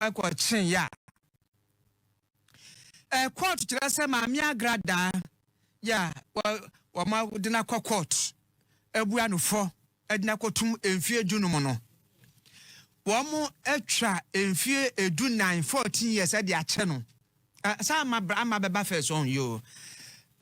kɔ kyene ya. Ɛ court kyerɛ sɛ maame agra daa ya wɔ wɔn ɔde na kɔ court abua no fɔ ɛde na kɔ tum mfie du no mu no wɔn atwa mfie edu nan fourteen years ɛde akyɛ no saa ama bra ama bɛba fɛ so ɔn yoo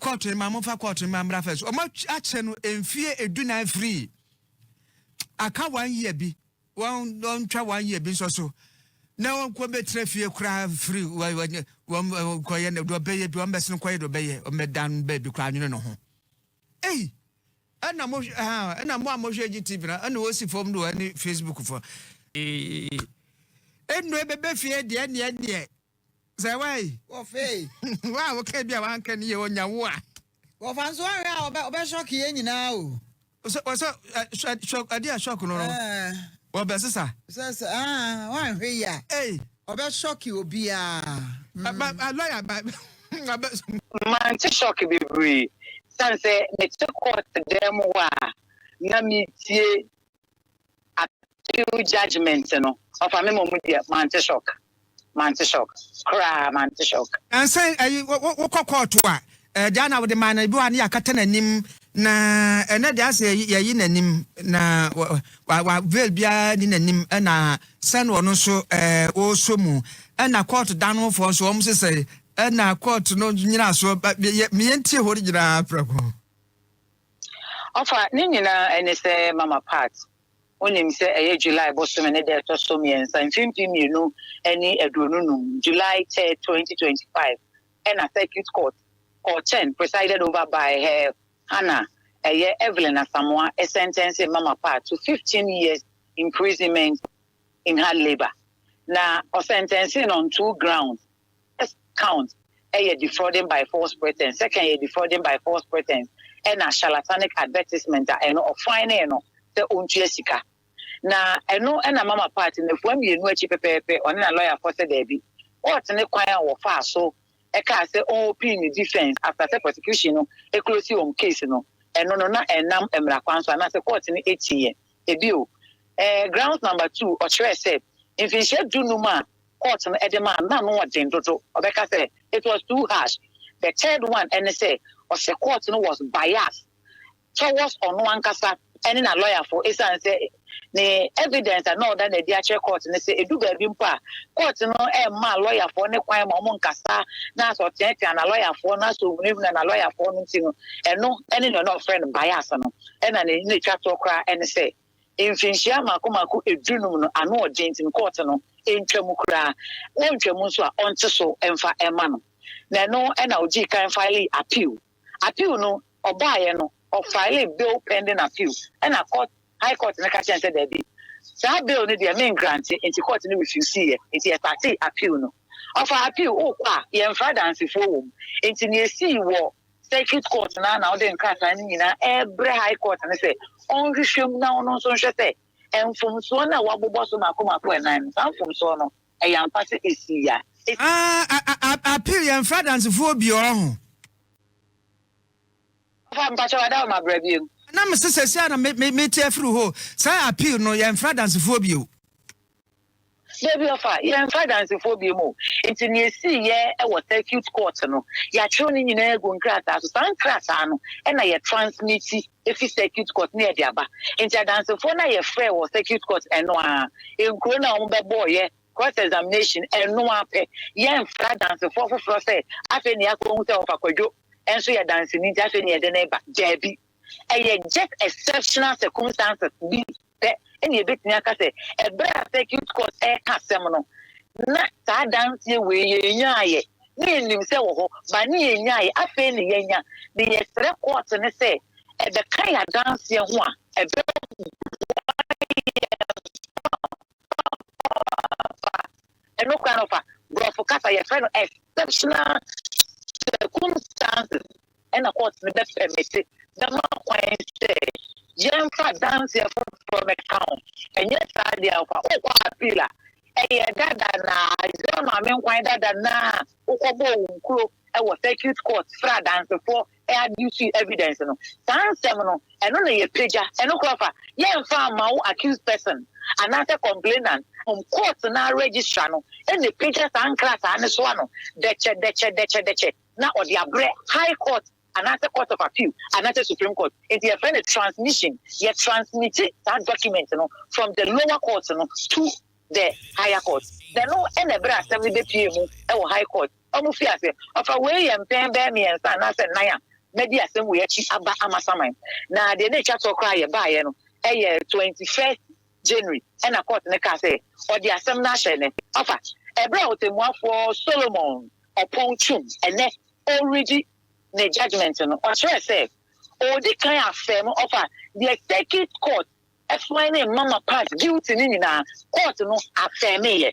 court no ma mo fa court no ma mbra fɛ so wɔn akyɛ no mfie edu nan free aka one year bi. wɔntwa wɔn yɛ bi nso so na wɔnkɔ bɛtena fie koraa firi wɔnkɔyɛ no deɛ ɔbɛyɛ bi wɔmbɛse no nkɔyɛ deɛ ɔbɛyɛ ɔmmɛdan baabi koraa nwene no ho ei ɛna mo ɛna mo a mohwɛ gye tv na ɛna wɔsi fam no ɛne facebook fo ɛnnu ɛbɛbɛ fie deɛ neɛ neɛ Sɛ wa yi. Wɔ fɛ yi. Wa a wɔka bi a wanka ni yɛ ɔnya wo a. Wɔ fa nso ahwɛ a ɔbɛ ɔbɛ shock yɛ nyinaa o. Sɛ wɔ sɛ ɛ shock adi a shock no no. Wɔ bɛ sisa. Sɛ sɛ aa wanhwɛ yi a. Ei. Ɔbɛ shock obiara. Ba ba lawyer ba ɔbɛ. Mante shock bebree sane sɛ mete court dan mu hɔ a na meretie appeal judgement no ɔfa me ma ɔmo deɛ mante shock mante shock koraa mante shock. Ɛnsɛ ɛyi wokɔ kɔɔto a ɛɛ deɛ na wode maa no ebi wɔ a ne yɛakata n'anim na ɛnɛ deɛ asɛ yɛyi n'anim na wa wa veil biara ni n'anim ɛna sɛ no ɔno nso ɛɛ ɔresɔ mu ɛna kɔɔto dan no foɔ nso wɔn sesɛ ɛna kɔɔto no nyina so meyɛ ntie hɔ no nyinaa prɛko. Ɔfa, Ne nyinaa ɛne sɛ Mama Pat, wonim sɛ ɛyɛ July bosome ne da a ɛtɔ so mmiɛnsa, mfeɛ mpem mmienu ne aduonu num, July third, twenty twenty five, ɛna Circuit Court kɔɔ kyɛn, presided over by Her Hana, ɛyɛ Evelyn Asamoah, ɛsɛntɛnsee Mama Pat to fifteen years imprisonment in hard labour. Na ɔsɛntɛnsee no on two grounds. First count yɛ defrauding by false pretence, second yɛ defrauding by false pretence ɛna charlatanic advertisement a ɛno ɔfan nee no sɛ ɔntua sika. Na ɛno ɛna mama part no afua mmienu akyi pɛpɛɛpɛ ɔne na lawyer foɔ sɛ daabi. Court ne kwan a wɔfaa so ɛkaa sɛ ɔnopin ne defence after sɛ prosecution no ɛclose wɔn case no ɛno no na ɛnam mmra kwan so anaasɛ court no ɛtiiɛ. Ɛbio ɛɛ grounds number two ɔkyerɛɛ sɛ mfinhyia du num a court no de maa no na ano yɛ den dodo. Ɔbɛka sɛ, It was too harsh. The third one ne sɛ, ɔsɛ court no was biased towards ɔno ankasa ne na lɔyafo esiane sɛ ne evidence a na ɔda no adi akyerɛ court no sɛ edu baabi mpo a court no mmaa lɔyafoɔ no kwan ma wɔn nkasa na asɛ ɔteatea na lɔyafoɔ no asɛ ohunahuna na lɔyafoɔ no nti no ɛno ne nea ɔna ɔfrɛ no bias no ɛna ne na etwa toɔ koraa ne sɛ Mfinhyia mmaako mmaako du num no ano ɔden nti no kɔɔte no ntwa mu koraa, na ɔntwa mu nso a ɔnte so mfa mma no. Na ɛno na ɔdii kan filee appeal. Appeal no ɔbaeɛ no ɔfilee bail pending appeal ɛna court high court no ka kyerɛ no sɛ daabi saa bail no deɛ me ngrante nti court no refuseeɛ nti yɛstartee appeal no. Ɔfaa appeal wokɔ a yɛmfra adansefoɔ wɔ mu nti nea ɛsii wɔ Circuit Court no ara na ɔde nkrataa no nyinaa rebrɛ High Court no sɛ ɔnhwehwɛ mu na ɔno nso nhwɛ sɛ mfomsoɔ no a wɔabobɔ so mmaako mmaako nnan no, saa mfomsoɔ no, ɛyɛ ampa sɛ ɛsii a. Ah, appeal yɛmfrɛ adansefoɔ biaa ho. Ɔfa mpakyɛ wada hɔ ma bra biom. Na mese sɛsi a na mete afiri hoo, saa appeal no yɛmfrɛ adansefoɔ bio. Dabi ɔfa, yɛmfa adansefoɔ biom o. Nti nea esii yɛ wɔ circuit court no, yɛatwerɛ ne nyinaa agu nkrataa so. Saa nkrataa no na yɛ transmit fi circuit court na yɛde aba. Nti adansefoɔ no a yɛfrɛɛ wɔ circuit court ɛno ara, nkuro no a wɔn bɛbɔɔ yɛ cross examination ɛno ara pɛ. Yɛmfrɛ adansefoɔ foforɔ sɛ afei na yɛakɔ hu sɛ ɔfa Kwadwo nso yɛ danseni nti afei na yɛde no reba. Dabi. Ɛyɛ just exceptional circumstances bi pɛ na yɛbɛtumi aka sɛ ɛberɛ a circuit court reka asɛm no, na saa adanseɛ wei yɛnnyaaeɛ. Na yɛnim sɛ ɛwɔ hɔ, but na yɛnnyaaeɛ. Afei na yɛanya, na yɛsrɛ court no sɛ ɛbɛka yɛn adanseɛ ho a, ɛbɛboa yɛn papaapa. Ɛno koraa no, fa borɔfo kasa, yɛfrɛ no exceptional circumstances. Ɛna kɔɔt no bɛpɛmete bɛma kwan sɛ yɛmfa adanseɛ foforɔ mɛka ho. Ɛnyɛ saa deɛ a, fa wokɔ appeal a, ɛyɛ dada na Isreal Maame Nkwan dada no a wokɔbɔɔ wo nkuro wɔ circuit court frɛ adansefoɔ adduce evidence no. Saa nsɛm no, ɛno na yɛpagya. Ɛno koraa fa yɛmfa mma wo accused person anaasɛ complainant. Mmom kɔɔt no ara registrar no na ɛpagya saa nkrataa no so ano dɛkyɛdɛkyɛdɛkyɛdɛkyɛ. na ɔde abrɛ High Court anaasɛ Court of Appeal anaasɛ Supreme Court. Enti yɛfrɛ no transmission. Yɛ transmiti saa document no from the lower court no to the higher court. Na ɛno na ɛberɛ a asɛm no bɛpue mu wɔ High Court. Wɔn fi ase fa wei yɛ mpɛn bɛyɛ mmiɛnsa anaasɛ nnan a madi asɛm wei akyi aba amasaman. Na deɛ na ɛtwa toɔ koraa a yɛbaeɛ no yɛ twenty first January na kɔɔt no kaa sɛ ɔde asɛm no ahyɛ ne afa ɛberɛ a Ɔtɛmmuafoɔ Solomon Ɔpɔn Twum ɛnnɛ ɔredi ne judgement no. Ɔkyerɛɛ sɛ ɔredi kan afɛɛm ɔfa deɛ Circuit Court find Mama Pat guilty no nyinaa, kɔɔt no afɛɛmeeɛ.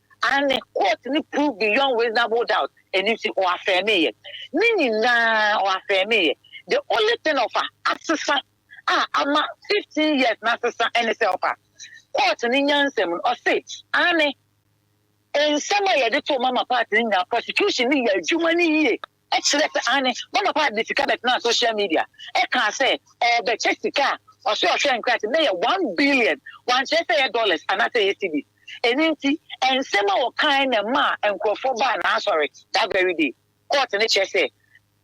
Aane, court no proved beyond reasonable doubt, ɛno nti ɔ affirmeeɛ. Ne nyinaa ɔ affirmeeɛ. The only thing ɔfa asesa a ama fifteen years no asesa ne sɛ ɔfa court no nyansam no ɔse, Aane, nsɛm a yɛde too Mama part no nyinaa prosecution no yɛ adwuma no yie. kyerɛɛ sɛ aane, Bonaparte de sika bɛtenaa social media kaa sɛ ɔrebɛkyɛ sika a ɔse ɔhwɛɛ nkrate no bɛyɛ one billion, wankyerɛ sɛ ɛyɛ dollars anaasɛ ɛyɛ cedis. Ɛno nti nsɛm a ɔkaae na ɛmaa nkurɔfoɔ baa n'asɔre that very day. Court no kyerɛ sɛ,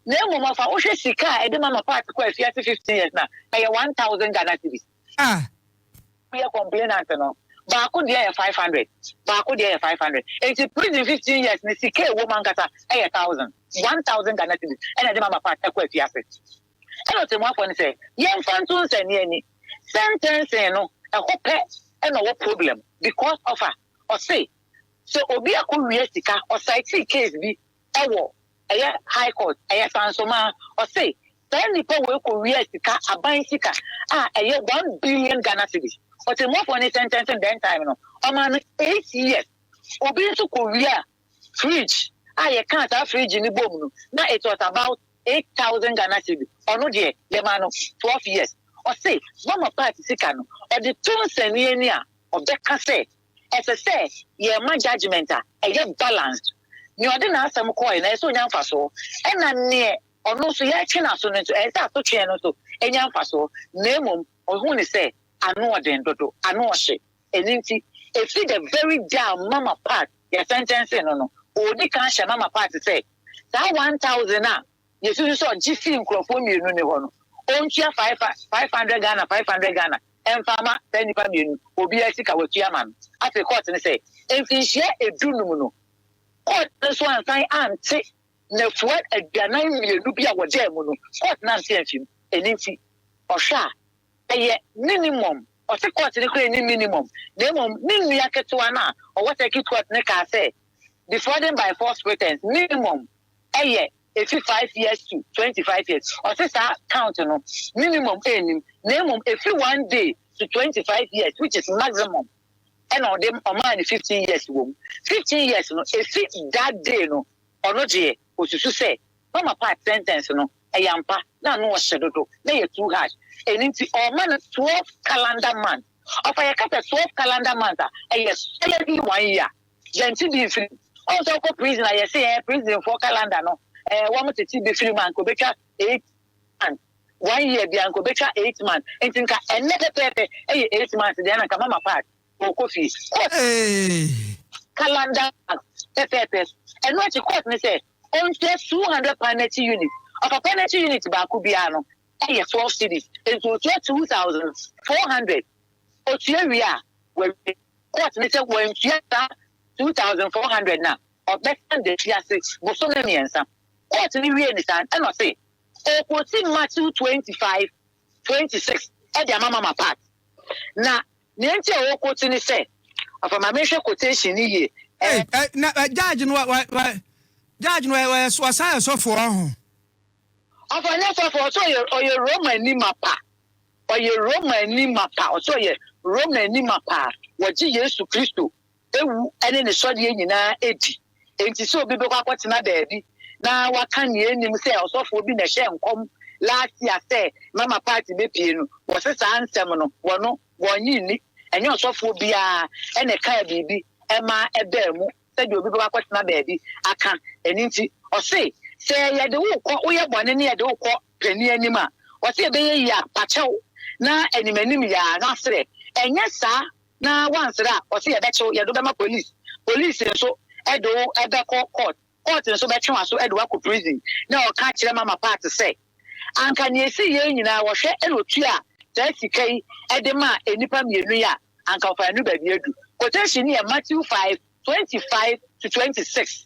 Na mmom fa wohwɛ sika a ɛde ma ma Paate kɔ afiase fifteen years no a, ɛyɛ one thousand Ghana cedis. Ah! Yɛ complainant no baako deɛ yɛ five hundred baako deɛ yɛ five hundred nti prison fifteen years ne sika ɛwɔ mu ankasa ɛyɛ thousand one thousand Ghana cedis ɛna ɛde mama part ɛkɔ afiase ɛna ɔtɛmuafoɔ no sɛ yɛnfa nto nsani ani sentencing no ɛhɔ pɛ ɛna ɔwɔ problem because of a ɔse sɛ obi akɔ wia sika ɔsaetii case bi ɛwɔ ɛyɛ high court ɛyɛ sansoma ɔse saa nipa wei kɔ wia sika aban sika a ɛyɛ one billion Ghana cedis ɔtɛmuafoɔ ne sɛntɛnsen dɛn time no ɔmaa no eight years obi nso kɔ wia fridge a yɛ kaa saa fridge ne bom no na it was about eight thousand Ghana cedis ɔno deɛ yɛ maa no twelve years ɔse mama part sika no ɔde to nsɛnniɛ ni a ɔbɛka sɛ Ɛsɛ sɛ yɛma judgement a ɛyɛ balanced. Nea ɔde n'asɛm kɔɔe no, ɛsɛ sɛ ɔnya mfasoɔ. Ɛna neɛ ɔno nso yɛretwe n'aso no nso, ɛsɛ sɛ asotweɛ no nso nya mfasoɔ. Na mmom ɔhuu no sɛ ano ɔden dodo, ano ɔhye. Ɛno nti, ɛfiri the very day a Mama Pat yɛ sɛntɛnsee no no, ɔredi kan hyɛ Mama Pat sɛ, saa one thousand a Yesusu sɛ ɔgye fii nkurɔfoɔ mmienu no hɔ no, ɔntua five five hundred Ghana five hundred Ghana mfa ama saa nnipa mmienu, obiara sika watua ama no. Afei kɔɔte no sɛ mfinhyia edu num no, kɔɔte no nso ansan ante nafua aduanan mmienu bi a wɔdaa mu no, kɔɔte no ante amfi mu. Ɛno nti, ɔhwɛ a, ɛyɛ minimum, ɔse kɔɔte no koraa nni minimum, na mmom ne nua ketewa no a ɔwɔ circuit court no kaa sɛ defrauding by false pretense, minimum, ɛyɛ ɛfiri five years to twenty five years ɔse saa count no minimum ɛnnim na mmom ɛfiri one day to twenty five years which is maximum ɛna ɔde ɔmaa ne fifteen years wɔ mu fifteen years no ɛfi that day no ɔno deɛ ɔsusu sɛ mama part sentence no ɛyɛ ampa na ano ɔhyɛ dodo na yɛ too hard ɛno nti ɔma no twelve calendar month ɔfa yɛka sɛ twelve calendar month a ɛyɛ solidly one year Yɛnte bi mfiri mu. Ɔn sɛ wokɔ prison a yɛse ɛɛ prisonfoɔ calendar no ɛɛ wɔn tete bi firi mu a nka obetwa eight months. One year biara nka obetwa eight months. Nti nka ɛnnɛ pɛpɛɛpɛ ɛyɛ eight months deɛ na nka mama pass ɔɔkɔ fie. Court calendar month pɛpɛɛpɛ. Ɛno akyi court no sɛ ɔntua two hundred pound n'akyi unit. Ɔpapa n'akyi unit baako biara no ɛyɛ twelve cedis. Nti otua two thousand four hundred. Otua wie a, wawie. Court no sɛ wantua saa two thousand four hundred no a, ɔbɛsan de afi ase bosome mmiɛnsa. Court no wiee no saa no, ɛna ɔse ɔrekɔsi Matthew twenty five, twenty six de ama Mama Pat. Na nea nti a ɔrekɔsi ne sɛ, ɔfa ma menhwɛ quotation no yie, Ei, ɛɛ. ɛ, na ɛ, judge no, wa, wa, wa, judge no, ɛ, ɔyɛ, so ɔsan yɛ sɔfoɔ ɔho. Ɔfa nyɛ sɔfoɔ, ɔse ɔyɛ, ɔyɛ Romani mapa. Ɔyɛ Romani mapa, ɔsɛ ɔyɛ Romani mapa a wɔgye Yesu Kristo wu ne ne sɔreɛ nyinaa di. Enti sɛ obi bɛkɔ akɔtena baabi na waka nea ɛnnim sɛ ɔsɔfoɔ bi na ɛhyɛɛ nkɔm last year sɛ Mama party bɛpue no, wɔse saa nsɛm no wɔno wɔnnye nni. Ɛnyɛ ɔsɔfoɔ biara na ɛkaa biribi ma ɛbaa mu sɛdeɛ obi bɛkɔ akɔtena baabi aka. Ɛno nti ɔse sɛ yɛde wo kɔ, woyɛ bɔne ne yɛde wo kɔ panin anim a, ɔse ɛbɛyɛ yie a fa kyɛw na anim anim yɛ a na serɛ, ɛnyɛ saa na woanserɛ a ɔse yɛbɛkye wo, yɛde wo bɛma police, police nso de wo bɛkɔ court, court nso bɛtwe w'aso de wo akɔ prison. Na ɔka kyerɛ Mama Pat sɛ, anka nea ɛsii yei nyinaa wɔhwɛ na ɔtua saa sika yi de ma nnipa mmienu yi a, anka ɔfa yɛn no baabi adu. Quotation no yɛ Matthew 5, 25 to 26.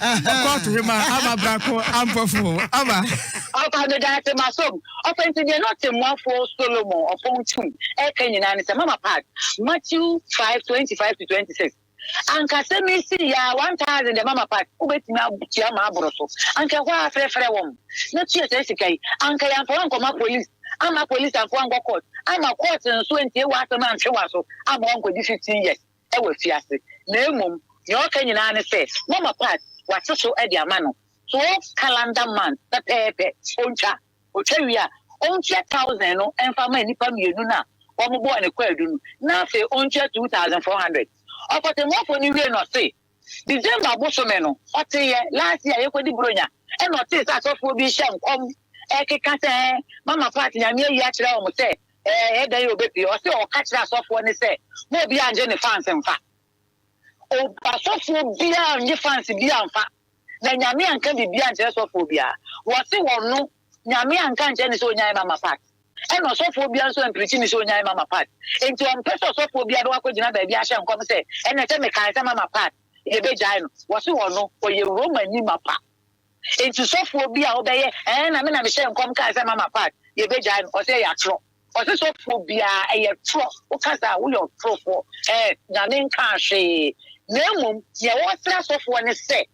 Ɔkɔɔto hema ama brako ampɔfo ama. Ɔba meda ase masom. Ɔfa nti deɛ na ɔtemmuafoɔ Solomon ɔfɔn tum ɛka nyinaa ne sɛ mama part Matthew five twenty five to twenty six anka sɛ mesi ya one thousand deɛ mama part wobɛtumi atua ma aboro so anka ɛhɔ a frɛfrɛ wɔn na tua saa sika yi anka yɛamfa wankɔma police ama police amfa wankɔ court ama court nso antie w'asɛm antwe w'aso ama wankɔdi fifteen years wɔ afiase, na mmom nea ɔka nyinaa ne sɛ Mama Pat wate so de ama no twelve calendar months pɛpɛɛpɛ. Ontwa. Otwa wie a, ontua thousand no mfa mma nnipa mmienu no a wɔbɔɔ ne kwaadu no, na afei ontua two thousand four hundred. Ɔkɔtɛmmuafo no wiei no, ɔse. December bosome no ɔteeɛ last year yɛkɔdi Buronya ɛna ɔtee sɛ asɔfoɔ bi hyɛ nkɔm ɛkeka sɛ ɛɛ mama part nyame ayi akyerɛ wɔn sɛ ɛɛ ɛyɛ dɛn yɛ ɔbɛpie ɔse ɔka kyerɛ asɔfoɔ ne sɛ mo obi angye ne fans mfa o asɔfoɔ biara nye fans bi amfa na nyame anka biribi ankyerɛ sɔfoɔ biara wɔse wɔn no nyame anka nkyerɛ ne sɛ ɔnyae mama part Ɛna ɔsɔfoɔ biara nso ampirikyi me sɛ ɔnyae Mama Pat. Enti ɔmpɛ sɛ ɔsɔfoɔ biara bɛkɔ akɔgyina baabi ahyɛ nkɔm sɛ, Ɛnɛ sɛ mekae sɛ Mama Pat, yɛbɛgyae no. Wɔse ɔno, ɔyɛ Romani mapa. Enti sɔfoɔ bi a ɔbɛyɛ, Ɛɛ na me na mehyɛɛ nkɔm kae sɛ Mama Pat, yɛbɛgyae no. Ɔse ɛyɛ atorɔ. Ɔse sɔfoɔ biara, ɛyɛ torɔ. Woka saa a, woyɛ ɔtorofoɔ. Ɛɛ, Nyame nkaa hwee. Na mmom, deɛ wɔsrɛ asɔfoɔ ne sɛ,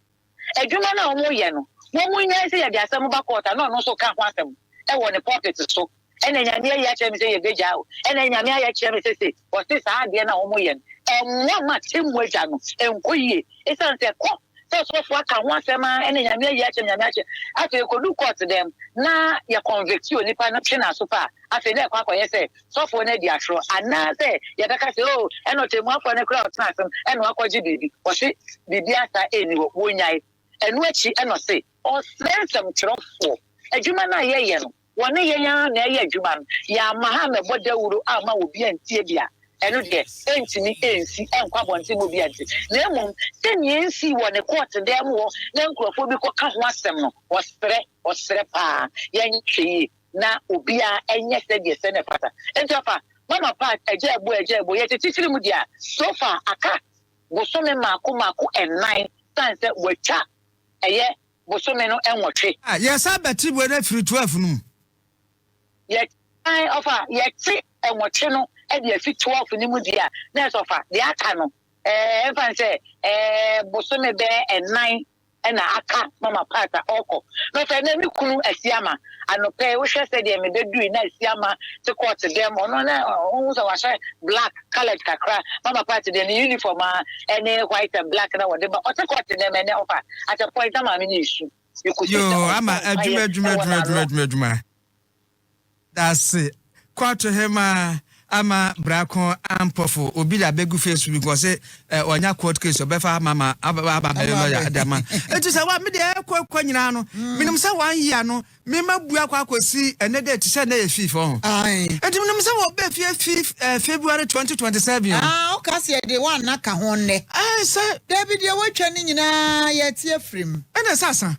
Adwuma no a wɔyɛ no, wɔnnyae sɛ yɛde asɛm ba court a na ɔno nso ka ho asɛm wɔ ne pulpit so. Ɛna Nyame ayi akyerɛ me sɛ yɛbɛgyae o, ɛna Nyame ayɛ akyerɛ me sɛ sei. Wɔse saa adeɛ no a wɔyɛ no, ɛmmoa ma Atemmu Agya no nkɔ yie. Ɛsiane sɛ ɛkɔ sɛ ɔsɔfoɔ aka ho asɛm ara, ɛna Nyame ayi akyerɛ me, Nyame akyerɛ me. Afei ɛkɔdu court dɛm na yɛ convict onipa no, twe no aso pɛ a, afei na ɛkɔ akɔyɛ sɛ sɔfoɔ no adi atorɔ, anaa sɛ yɛbɛka sɛ, Oo, ɛna ɔtɛmmuafoɔ no koraa ɔtena asem, ɛna wakɔgye biribi. Ɔse, Biribiara saa ɛnni hɔ. Wɔnyae. Ɛno akyi ɛna ɔse. Ɔsrɛ nsɛmtwerɛfoɔ, Adwuma no a yɛyɛ no, wɔne yɛn ara na ɛyɛ adwuma no, yɛamma ha ammɛbɔ dawuro amma obi antie bi a, ɛno deɛ, ɛntumi ɛnsi ɛnkɔ abɔnten ma obi ante. Na mmom, sɛdeɛ ɛnsii wɔ ne kɔɔte dan mu hɔ na nkurɔfoɔ bi kɔka ho asɛm no, ɔsrɛ, ɔsrɛ pa ara. Yɛnhwɛ yie. na obiara nyɛ sɛdeɛ sɛ na ɛfata nti ɔfa mama pa agya ɛbo agya ɛbo yɛte titiri mu deɛ a so far aka bosome mako mako nnan sane sɛ wɔatwa ɛyɛ bosome no nwɔtwe. Ah yɛsan bɛte wei no afiri 12 no mu. Yɛte ae ɔfa yɛte nwɔtwe no de afi 12 no mu deɛ a na ɛsɛ ɔfa deɛ aka no ɛɛ mfa ne sɛ ɛɛ bosome bɛɛ nnan na aka ma m'apaata ɔɔkɔ. Na ɔsɛ na me kunu Asiama. Anɔpɛ yi wohwɛ sɛdeɛ me bɛ dui na Asiama te kɔɔte dɛm ɔno na wohu sɛ wahyɛ black coloured kakra ma m'apaata deɛ ne uniform aa ɛne white and black na wɔde ba ɔte kɔɔte dɛm ɛnɛ ɔfa at a point na maame no resu. Yoo ama adwuma adwuma adwuma adwuma adwuma adwuma. Dase Quartehema ama brako ampɔfo obi da begu face book ɔse eh, ɔnya court case ɔbɛfa ama ma aba aba bɛyɛ lawyer ɛde ama eti sɛ wa mede ɛkɔ kɔ nyinaa no mm. menim sɛ one year no mema bua kɔ akɔsi ɛnɛ dɛ ti sɛ ɛnɛ yɛ fifth ɔho eti menim sɛ wɔbɛ fie fifth eh, February 2027 ah ɔka sɛ ɛde wa nna ka ho nnɛ ɛɛ sɛ dabi deɛ watwa ne nyinaa yɛte afirim ɛna sɛ asan